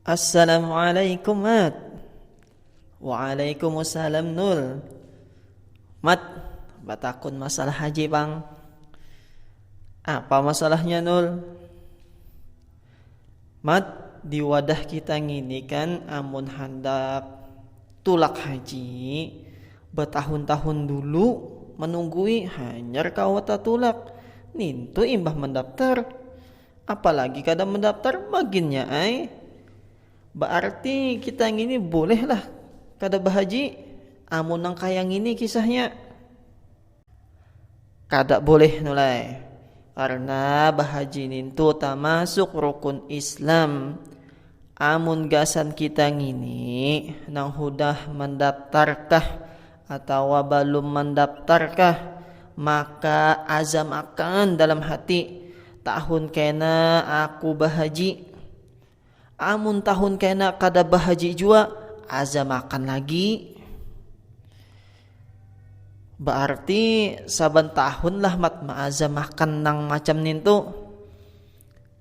Assalamualaikum Mat Waalaikumsalam Nul Mat Batakun masalah haji pang Apa masalahnya Nul Mat Di wadah kita ngini kan amun handak Tulak haji, batahun-tahun dulu manunggui hanyar kawa tatulak, nintu imbah mandaptar. Apalagi kada mandaptar maginnya ai. Baarti kita ngini bolehlah kada bahaji amun nang kaya ngini kisahnya. kada boleh nulai karna bahaji nintu tamasuk rukun islam amun gasan kita ngini nang hudah mandaptarkah atawa balum mandaptarkah maka azam akan dalam hati tahun kena aku bahaji. Amun tahun kena kada bahaji jua, azamakan lagi. Berarti saban tahun lah mat maazamakan nang macam nintu.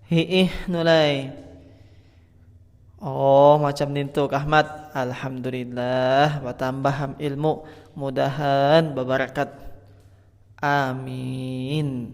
Hiih nulai. Oh macam nintu kah mat. Alhamdulillah batambah ilmu. Mudahan babarakat. Amin.